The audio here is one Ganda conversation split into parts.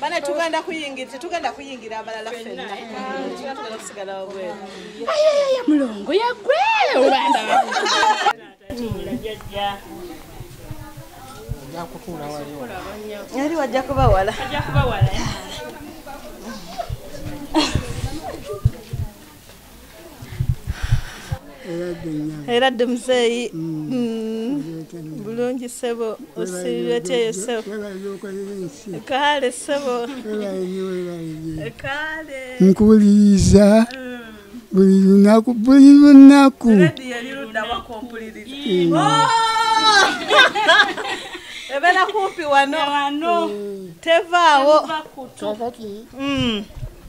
bana tugenda kuyingira tetugenda kuyingira abalala fenna tugenda kusigalawo bweru ayayaya mulongo yagwe obanda yali wajja kubawala era dde muzeeyi mm. mm. bulungi sebo osiibyoty yourself kaale sebo kaale nkuwuliriza mm. buli lunaku buli lunaku ebeera kumpi wano tevaawo kakati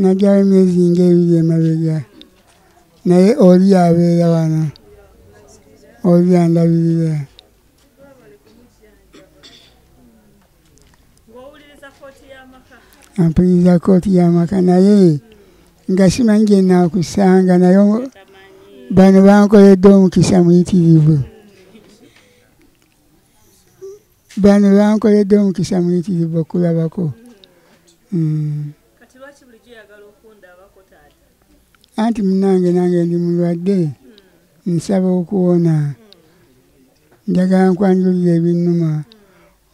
najyayo emyezi ng'ebiri emabega naye oli abeera wano oli andabirira ampuliriza kooti y'amaka naye nga simanyi gye naakusanga naye bano bankoledde omukisa muyitirivu bano bankoledde omukisa muyitirivu okulabako hmm. anti munange nange ndi mulwadde nsaba okuwona njagala nkwanjulira ebinnuma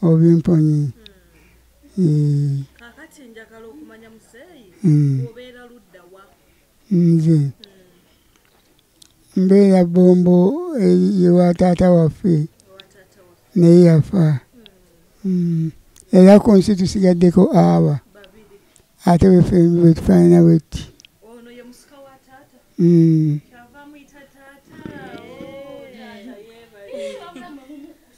obimponyi hmm. hmm. nze mbeera bombo ewa taata waffe naye yafa mm. era ku nsi tusigaddeko aba ate wefe wetufaanana wetti mm.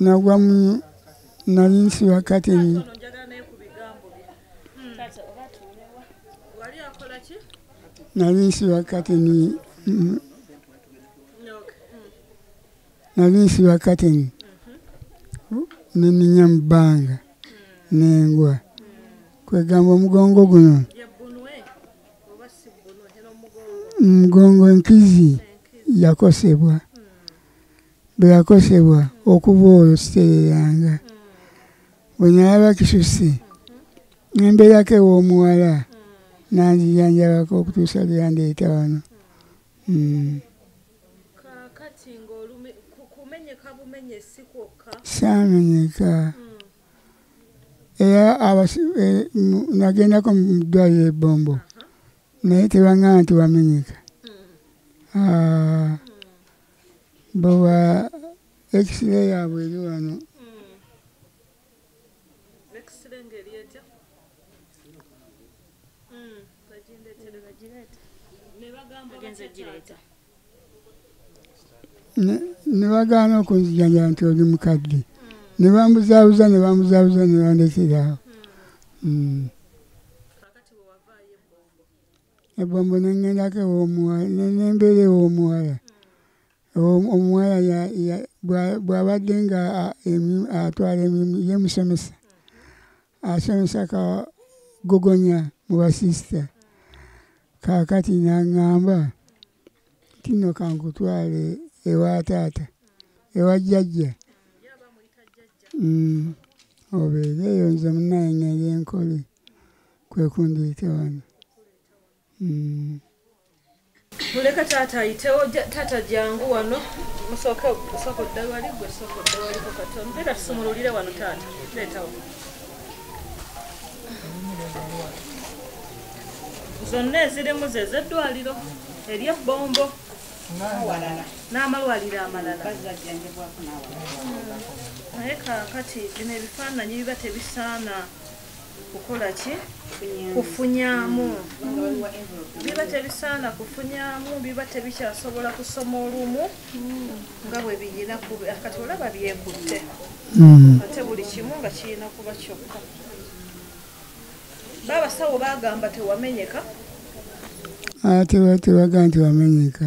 nagwa mu nali nsiba kateni nali nsiba kateni nali nsiba kateni neninya mu bbanga nengwa kwegamba omugongo guno mugongo enkizi yakosebwa bwe yakosebwa okuva olwo sitereranga bwe nalaba kisusi nembeerako ew'omuwala nanzijanjabako okutuusa lwe yandeeta wano hmm. saamenyeka era eh, nagendako mu ddwaliro ebombo naye tebangamba nti wamenyeka hmm. ah. bwewa ekisire yaabwe eri wano nebagaana okunzijanja nti oli mukadde nebambuzabuza nebambuzabuza nebandekerawo hmm. ebombo nengendako ewomuwala nembeera ewomuwala omuwala bwabadde nga atwala emirimu ye musomesa asomesa ka gogonya mu basisita kakati nangamba tino kankutwale ewa taata ewa jjajja mm. obeere eyo nze munaye ngende enkole kwe kundiita wano mm. muleka taata ayitewo taata jangu wano musooke osooka oddawali gwe sooka oddawaliko katono era tusumululire wano taata leetawo zonna ezirimu ze zeddwaliro eryebbombo n'amalwaliro amalala naye kakati bino ebifaananyi biba tebisaana kukola ki kufunyamu biba tebisaana kufunyamu biba tebikyasobola kusoma olumu nga bwe biyina kati olaba byekutte hmm. ate buli kimu nga kirina kuba kyokka baabasawo bagamba tewamenyeka ah, tebaga nti wamenyeka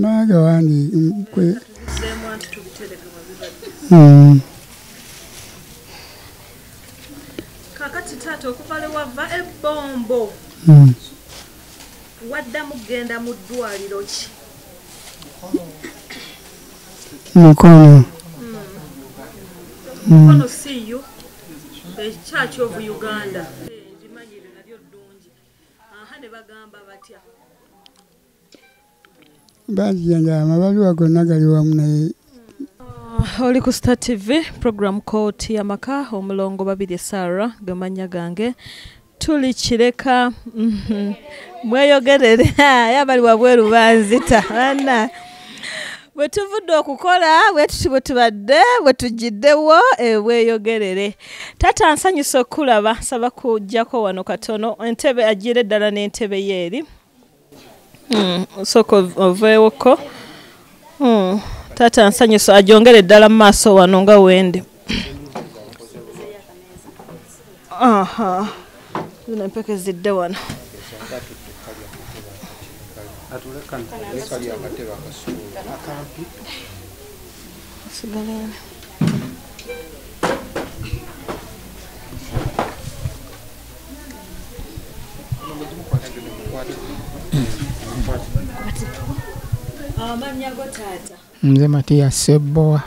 Maaga wange kwe hmm. kakati taata okuva lwe wava ebbombo hmm. waddamu kugenda mu ddwaliro ki mukono hmm. mukono siiyo ekyakyovu uganda aha ne bagamba batya bajjanja amabaliwa gonna gali wamu naye ah, oli ku star tv program kooti yamaka omulongo babiri sara gemanya gange tuli kireka mhm. mweyogerere yabali wabweru banzita ana bwe tuvudde okukola bwe tuti bwe tubadde bwe tugiddewo ebweyogerere taata nsanyusa okukulaba nsaba kujjako wano katono entebe agira eddala n'entebe ye eri hmm, osooka oveewoko hmm, taata nsanyusa ajongere eddala mu maaso wano nga wendi Aha. Zino empeke zidde wano. Sigala Mzee Matia Seboa.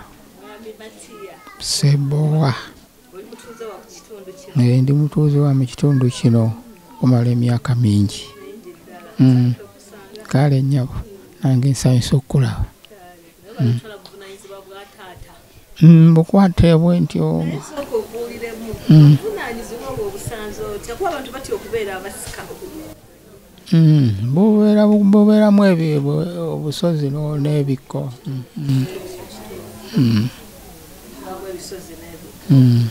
Seboa. naye ndi mutuuze wa mu kitundu kino okumala emyaka mingi mm. kale nyabo nange nsanyusa okukulaba mm. mm, bukwata ebwe ntyo Mm, bubeeramu obusozi n'ebikko mm, mm.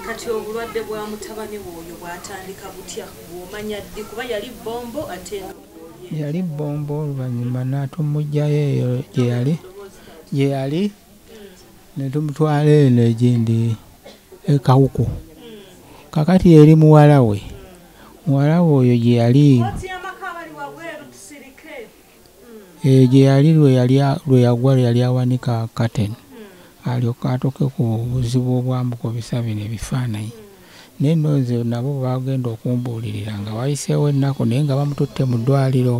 kati obulwadde bwa mutabani woyo bwatandika butya bwomanya ddi kuba yali bombo ate yali bombo oluvannyuma natumugjayo eyo gyeyali gyeyali netumutwala eno egindi ekawuku kakati eri muwala we Muwala we oyo gye yali. Eyo gye yali lwe yagwa lwe yali awanika katen alyoke atuuke ku buzibu obwambuka obisabina ebifaananyi naye no nze nabo bagenda okumbuulirira nga wayiseewo ennaku naye nga bamututte mu ddwaliro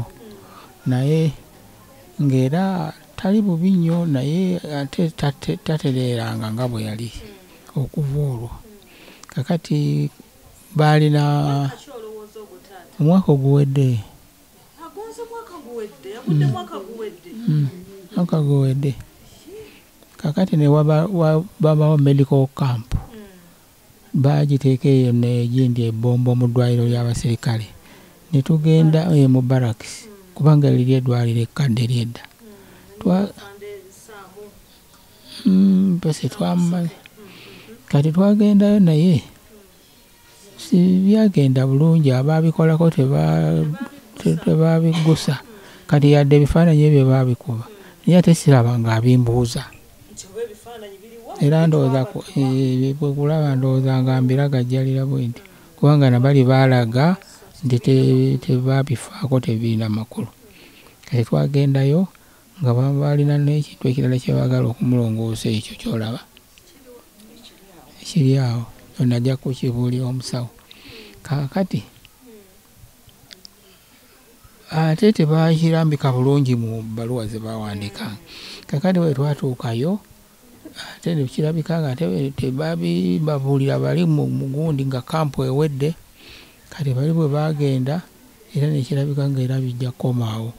naye ng'era tali bubi nnyo naye ate tatereeranga nga bwe yali okuva olwo kakati baalina omwaka oguwedde mwaka guwedde kakati nebabawo medical camp bagiteeka eyo negindi ebombo mu ddwaliro ly'abaserikale ne tugenda eh, mu barracks kubanga liri eddwaliro ekkadde lyedda mm, basi twamumanyi kati twagendayo naye sibyagenda bulungi abaabikolako tebabiggusa kati yadde ebifaananyi ebyo baabikuba naye ate siraba nga abimbuuza era ndowooza eh, kulaba ndowooza nga mbiragajjalira bwe nti kubanga nabali baalaga nti tebabifaako tebirina makulu kati twagendayo nga baba balina n'ekintu ekirala kye baagala okumulongoosa ekyo kyolaba ekiri awo ono ajja kukibuulira omusawo kaakati ate tebaakirambika bulungi mu bbaluwa ze baawandiika kakati bwe twatuukayo ate nekirabika nga ate tebabibabuulira bali mu mugundi nga kampu ewedde kati bali bwe baagenda era nekirabika nga era bijja kukomaawo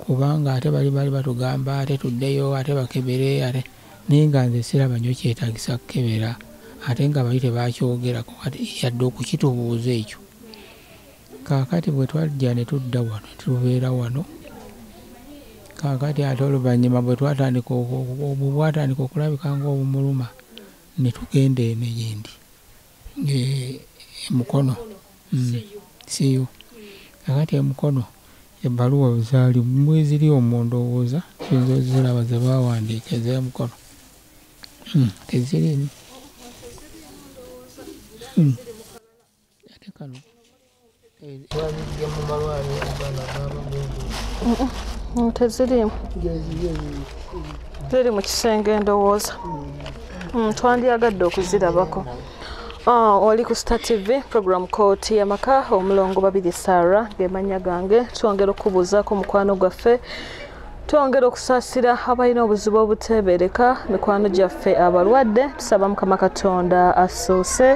kubanga ate bali bali batugamba ate tuddeyo ate bakebere ate naye nga nze siraba nyo kyetagisa kukebera ate nga bali tebakyogerako yadde okukitubuuza ekyo Kaakati bwe twajja ne tudda wano ne tubeera wano, kaakati ate oluvannyuma bwe twatandika obwo bwatandika okulabika ng'obumuluma, ne tugenda eno gye ndi e, e Mukono mm, siyo kaakati e Mukono ebbaluwa zaali mweziri omwo ndowooza kiyinza oziraba ze baawandiika ez'emukono hmm, teziriimu hmm. ate kano twabijja mu malwaliro abaana abaabagenda tezirimu ziri mu kisenge endowooza mm, twandyagadde okuzirabako ah, oli ku star tv program kooti yamaka omulongo babiri sara gemanya gange twongera okubuuzaako omukwano gwaffe twongera okusasira abalina obuzibu obuteebereka mikwano gyaffe abalwadde tusaba mukama katonda asoose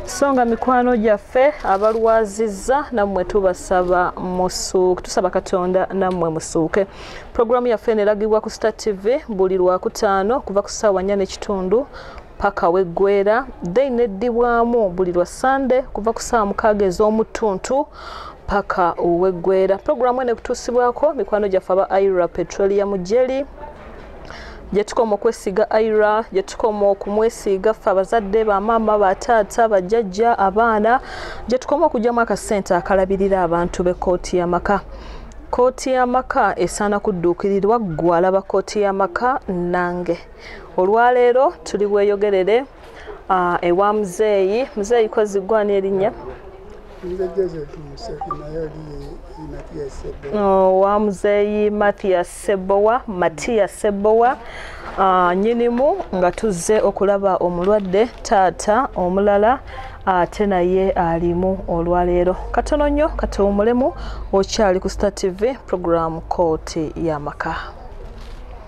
so nga mikwano gyaffe abalwazizza nammwe tubasaba musuuke tusaba katonda nammwe musuuke pulogulaamu yaffe neragibwa ku star tv buli lwakutaano okuva ku ssaawa nnya n'ekitundu paka weggwera then neddibwamu buli lwa sande kuva ku saawa mukaaga ez'omuttuntu paka oweggwera pulogulaamu eno ekutuusibwako mikwano gyaffe aba ira petroleum jeli gyetukoma okwesiiga ira gyetukoma okumwesiiga ffe abazadde bamaama bataata bajjajja abaana gyetukoma okugyamu akasente akalabirira abantu b'ekkooti y'amaka kkooti y'amaka esaana kudduukirirwa ggwe alaba kkooti y'amaka nange olwaleero tuli bweyogerere uh, ewa muzeeyi muzeeyi koziggwani erinnya Oh, wa muzeeyi mathias sebowa matiya sebowa ah, nyinimu nga tuzze okulaba omulwadde taata omulala ate naye alimu olwaleero katono nnyo katuwumulemu okyali ku star tv programu kooti y'amaka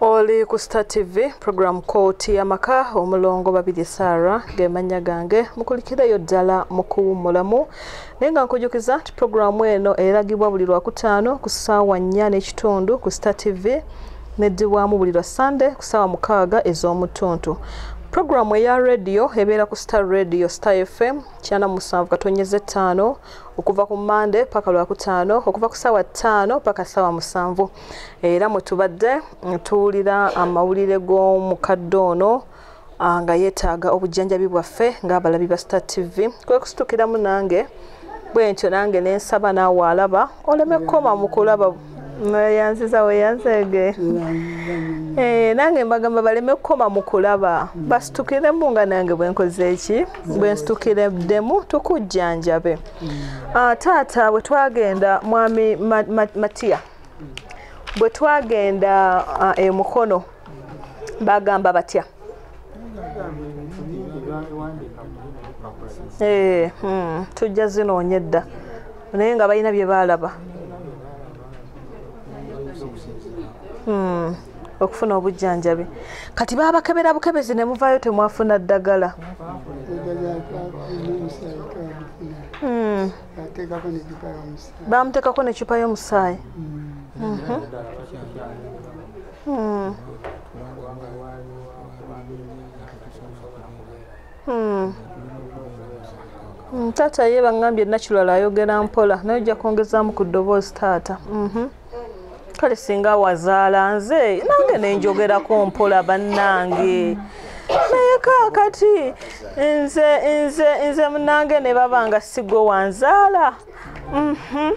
oli ku star tv program kooti yamaka omulongo babiri sara gemanya gange mukulikireyo ddala mukuwumulamu naye nga nkujukiza nti programu eno eragibwa buli lwakutaano ku ssaawa nnya n'ekitundu ku star tv neddibwamu buli lwa sande ku ssaawa mukaaga ez'omutuntu programu eya radio ebeera ku star radio star fm kyana musanvu katonyeza ettaano okuva ku mande paka lwakutaano okuva ku saawa ttaano paka saawa musanvu era mwetubadde tuwulira amawulire g'omukadde ono ah, nga yeetaaga obujjanjabi bwaffe ng'abalabi ba star tv kwekusitukiramu nange bwentyo nange nensaba naawe alaba oleme kukoma mu kulaba yanziza weyanzege eh, nange mbagamba baleme kukoma mu kulaba mm. basitukiremu nga nange bwenkoze eki bwensitukireddemu tukujjanjabe mm. ah, taata bwe twagenda mwami matiya bwe twagenda ah, emukono eh, bagamba batya eh, hmm, tujja zinoonya edda naye nga balina bye baalaba hmm, okufuna obujjanjabi kati baabakebera bukebezi ne muvaayo temwafuna ddagala hmm. bamuteekako necupa y'omusaayi mhm. Hmm. Hmm. Hmm, taata ye bangambye naculala ayogera mpola naye ojja kwongezaamu ku ddoboozi taata mhm. kale singa wazaala nze nange nenjogerako mpola bannange naye kakati nze nze nze munange ne baba nga sigwe wanzaala Mhm.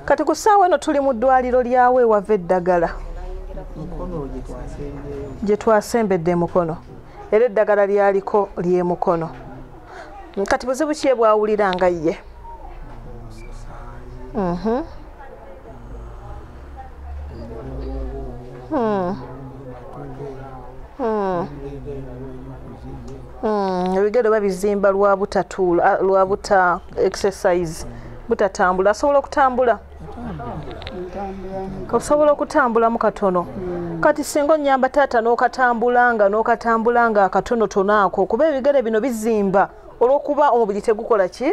kati ku ssaawa eno tuli mu ddwaliro lyawo ewava eddagala gye twasembedde emukono era eddagala lyaliko lyemukono kati buzibu ki ebwawulira nga ye mhm. Hmm. Hmm. Hmm. ebigere oba bizimba lwa butatuula lwa buta exercise butatambula asobola okutambula osobola okutambulamu katono kati singa onyamba taata n'okatambulanga n'okatambulanga akatonotono ako kuba ebigere bino bizimba olw'okuba omubiri tegukola ki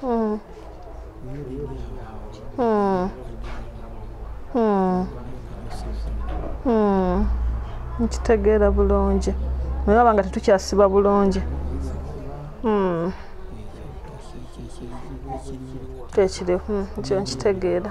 Hmm. Hmm. Hmm. Hmm. nkitegeera bulungi naye aba nga tetukyasiba bulungi hmm. kyekiri hmm. kyo nkitegeera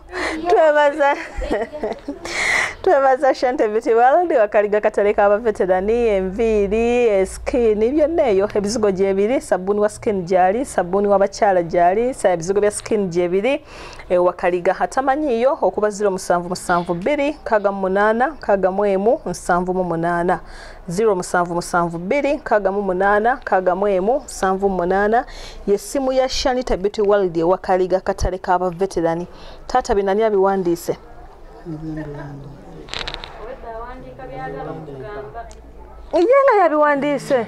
twebaza twebaza shente beauty world wakaliga katale ka baveterani enviiri esikini eh, byonna eyo ebizigo gyebiri sabuni wa sikini gyali sabuni wabakyala gyali ebizigo bya sikini gyebiri eh, wakaliga atamanyiyo okuba ziro musanvu musanvu bbiri nkaga mu munaana nkaga mu emu nsanvu mu munaana ziro musanvu musanvu bbiri nkaaga mu munaana nkaaga mu emu nsanvu mu munaana yessimu ya shanita beauty world ewa kaliga katale ka baveterani taata binani abiwandiise ye nga yabiwandiise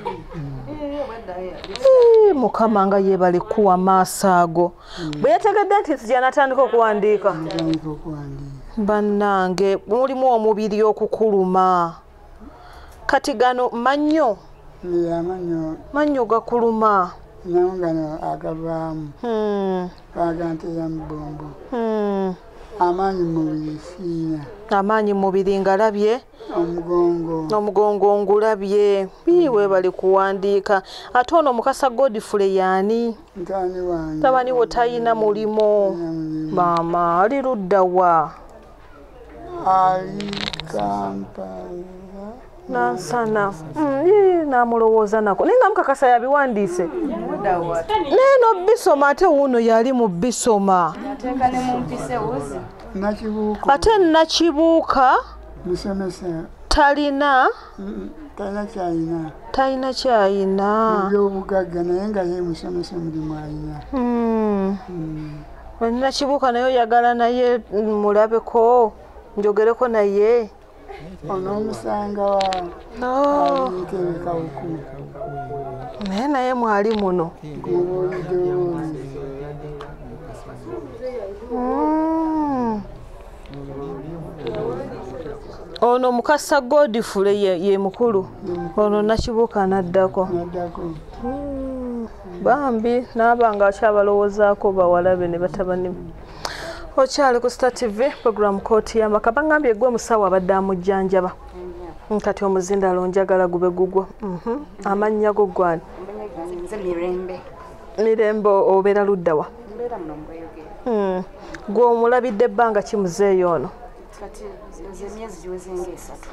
mukama nga yebale kuwa maaso ago bwe yategedde nti nti gyanatandika okuwandiika bannange mulimu omubiri okukuluma kati gano mannyo amannyo mannyo gakuluma namu gano agavaamu hmm. baga nti yamubombo hmm. amaanyi mumubiri siina amaanyi mumubiri ngalabye omugongo omugongo ngulabye ii webali kuwandiika ate ono mukasa godfule yaani tabani wo talina mulimu maama ali luddawa ali kampala nansana mm, namulowooza nako naye nga mukakasa yabiwandiise naye nobisoma ate wuuno yali mu bisoma ate nakibuuka talina talina kyayina talina kyayina byobugagga naye nga ye musomesa omulimu ayina hmm. hmm. Nina kibuka nayo yagala naye mulabe ko njogere ko naye ono musanga wa no tebeka uku naye naye mwali muno mm. ono mukasa godfule ye mukulu ono nakibuuka naddako hmm, bambi naaba nga akyabalowoozaako bawala be ne batabani be okyali ku star tv program kooti yamaka bagambye gwe omusawo abadde amujjanjaba kati omuzindalo njagala gube gugwo mhm. amannya go gwani mirembe obeera luddawa hmm. gwe omulabidde ebbanga kimuzeeyo ono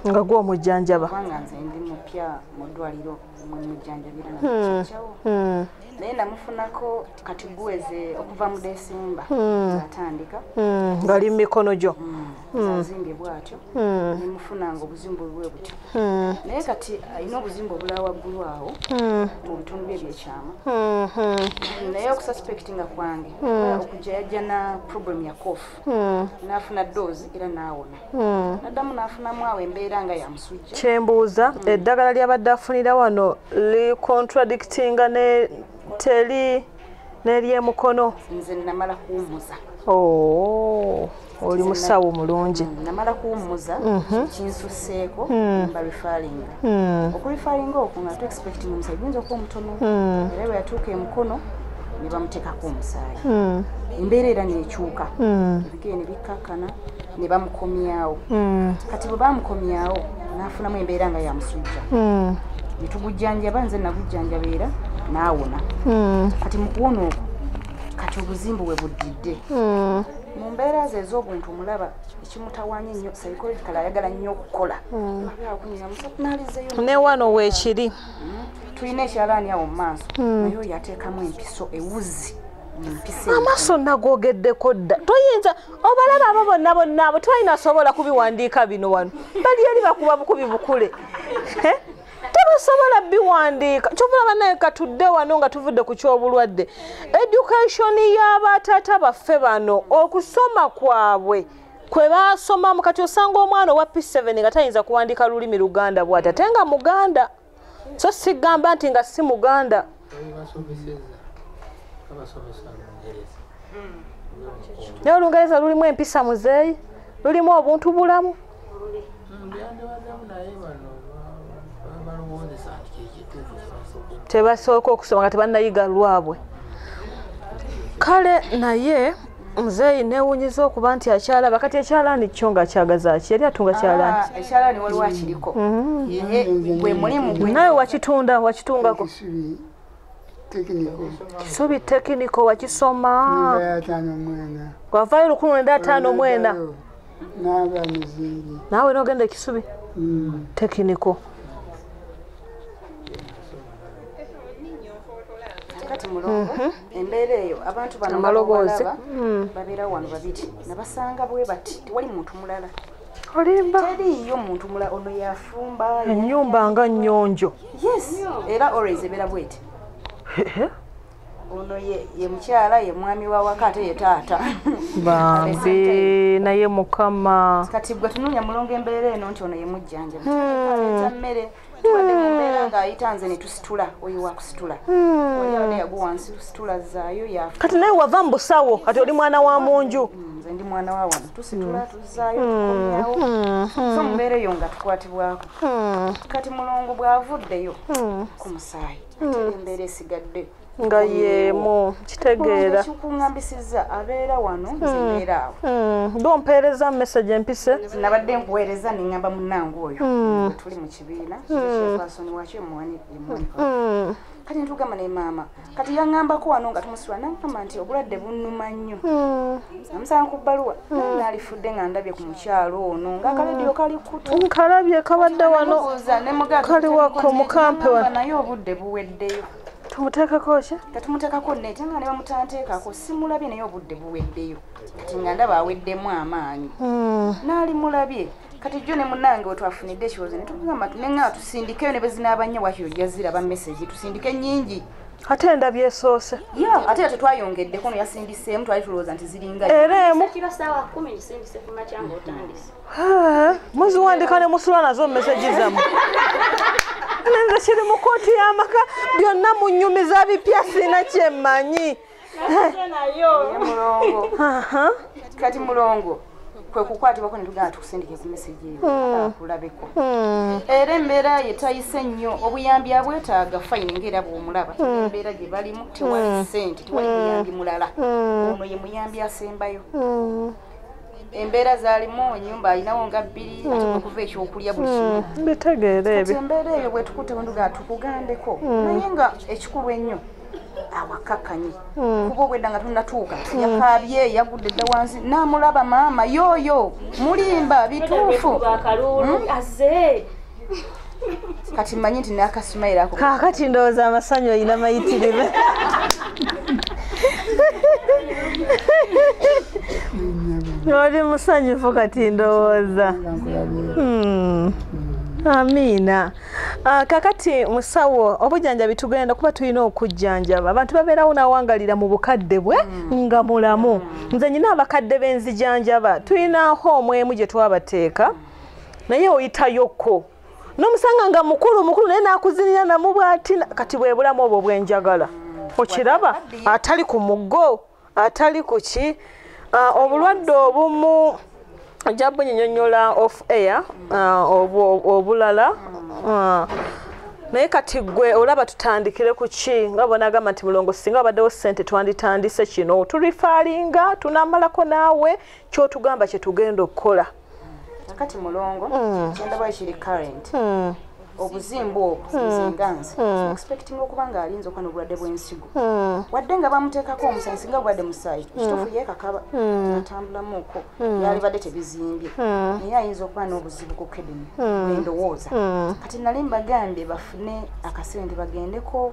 nga gwe omujjanjaba hmm. hmm. naye namufunako kati guweze okuva mu desemba atandika ngaali mu mikono gyo hmm. azimbye bwatyo hmm. nemufunanga obuzimbu bwe butyo hmm. naye kati alina obuzimbu obula waggulu awo mu bitundu bye byekyama naye okususpectinga kwange okujja yajja na problem ya kofu nafuna doozi era naawona naddamu nafunamu awo embeera nga yamusujja kyembuuza eddagala lyabadde afunira wano li contradictinga ne teli neryemukono nze namala kuwumuza oh, oli musawo mulungi mm, namala kuwumuza mhm. kinsuseeko mm. barifalinga mm. okurifalinga oku nga tuexpecting omusaayi guyinza okuba omutono era bwe yatuuka emukono ne bamuteekako omusaayi embeera era nekyuka ne bikkakkana ne bamukomyawo hmm. kati bwe bamukomyawo n'afunamu embeera nga yamusujja hmm. ne tugujjanjaba nze nagujjanjaba era n'awona hmm. kati mu kuwona okwo kati obuzimbu we buddidde mu mbeera ze ez'obuntu mulaba ekimutawanya ennyo sayikologikala ayagala nnyo okukola ne wano weekiri tulina ekyalaani awo mu maaso naye oyo ateekamu empiso ewuzi amaaso nagogeddeko dda toyinza obalaba abo bonna bonna abo tebalina sobola kubiwandiika bino wano bali eri bakuba bukubi bukule eh? tebasobola biwandiika kyovula banaye katudde wano nga tuvudde ku kyobulwadde education y'abataata baffe bano okusoma kwabwe kwe basomamu kati osanga omwana owa p7 nga tayinza kuwandiika lulimi luganda bwati ate nga muganda so sigamba nti nga si muganda naye olungereza lulimu empisa muzeeyi lulimu obuntu bulamu tebasooka okusoma nga tebanayiga lwabwe kale naye muzeeyi newunyiza okuba nti akyalaba kati ekyalaani kyo nga kyagazaki yali atunga kyalaaniekyalanio ah, waliwo akiriko mm-hmm. gwe mulimu nawe wakitunda wakitungako kisubi tekiniko wakisoma wavayo lukulu nenda ataano mwena naawe nogenda ekisubi mm. tekiniko kati mulongo mm-hmm. embeera eyo abantu banomaloboozi hmm. babeera wano babiri nabasanga bwe bati tewali muntu mulala olimba teriiyo muntu mulala ono yafumba enyumba nga nyonjo yes era always ebeera bweti ono ye mukyala ye mwami wa waka ate ye taata bambi naye mukama kati gwe tunoonya mulongo embeera eno nti ono ye mujjanjabi hmm. mmere kati naye wava mubusawo kati oli mwana wa munju nze ndi mwana wa wano tusitula hmm. tuzaayo hmm. tukomyawo hmm. so mubeera eyo nga tukwatibwako kati mulongo bw'avuddeyo ku musaayi ate embeera esigadde nga yeemu kitegeera kikuŋambisiza abeera wano hmm. zibeera awo hmm. gompeereza message empise nabadde nkuweereza neŋamba munange oyo hmm. tuli mu kibiina kyefaasoni wakyo emuwanika kati ntugamba ne maama kati yaŋambako wano nga tumusula naŋamba nti obulwadde bunuma nnyo amusanga ku bbaluwa naalifudde nga ndabye ku mukyalo ono nga akaledio kali kutu nkalabye kabadde wano kali wako mukampe wano naye obudde buweddeyo tumuteekako ki tetumuteekako nete nga ne bamutanteekako simulabye naye obudde buweddeyo kati nga ndaba aweddemu amaanyi hmm. naali mulabye kati jjo ne munange wetwafunidde ekiwozo ne tugamba ti ne ngaa tusindikeyo ne bezinaaba nnyo wakiro jaziraba mesegi tusindike nnyingi ate endabye esoose ya ate ya tetwayongeddeko no yasindiseemu twali tulowooza nti ziringa era emu muziwandika ne musula nazo mumeseji zamu nenze kiri mu kooti y'amaka byonna munyumiza bipya sina kyemanyi kati mulongo kwekukwatibwako netugenda tukusindike ku meseji hmm. kulabeko hmm. era embeera ye tayise nnyo obuyambi abwetaaga fayini ngaera bwomulaba hmm. embeera gye balimu tewali sente tewali muyambi mulala ono ye muyambi asembayo embeera zaalimu enyumba alinawo nga bbiri hmm. ate okuva ekyokulya buli hmm. kimu mbitegeera ebyo embeera eyo bwetukute wenduga tukugambeko hmm. naye nga ekikulu ennyo awakakkanye kuba obwedda nga tunatuuka yakaabye yagudde dda wansi namulaba maama yooyo mulimba bituufu kati manyi nti nakasumayira ako kakati ndowooza amasanyu olina mayitirive oli musanyufu kati ndowooza hmm. amiina ah, kakati musawo obujanjabi tugenda kuba tulina okujjanjaba abantu babeerawo nawangalira mu bukadde bwe hmm. nga mulamu nze nyina abakadde benzijanjaba tulina hoomu emu gye twabateeka mm. naye oyitayokko nomusanga nga mukulu mukulu naye nakuzinira namu bwati kati bwebulamu obwo bwenjagala okiraba atali ku mugo atali ku ki ah, obulwadde obumu ojja bunyinyonyola off air ah, obulala ah, naye kati gwe olaba tutandikire ku ki nga bonagamba nti mulongo singa abaddewo sente twanditandise kino turifalinga tunamalako naawe kyotugamba kyetugenda okukola kakati mulongo mm. kyendaba ekiri current mm. obuzimbu obwo mm. nzinganzi mm. expecting okuba nga alinza okuba nobulwadde bwensigo mm. wadde nga bamuteekako omusayi singa obulwadde musayi mm. kitufu yekakaba mm. atambulamuko mm. yalibadde tebizimbye mm. naye ayinza okuba n'obuzibu ku kidini mm. endowooza mm. kati nali mbagambye bafune akasente bagendeko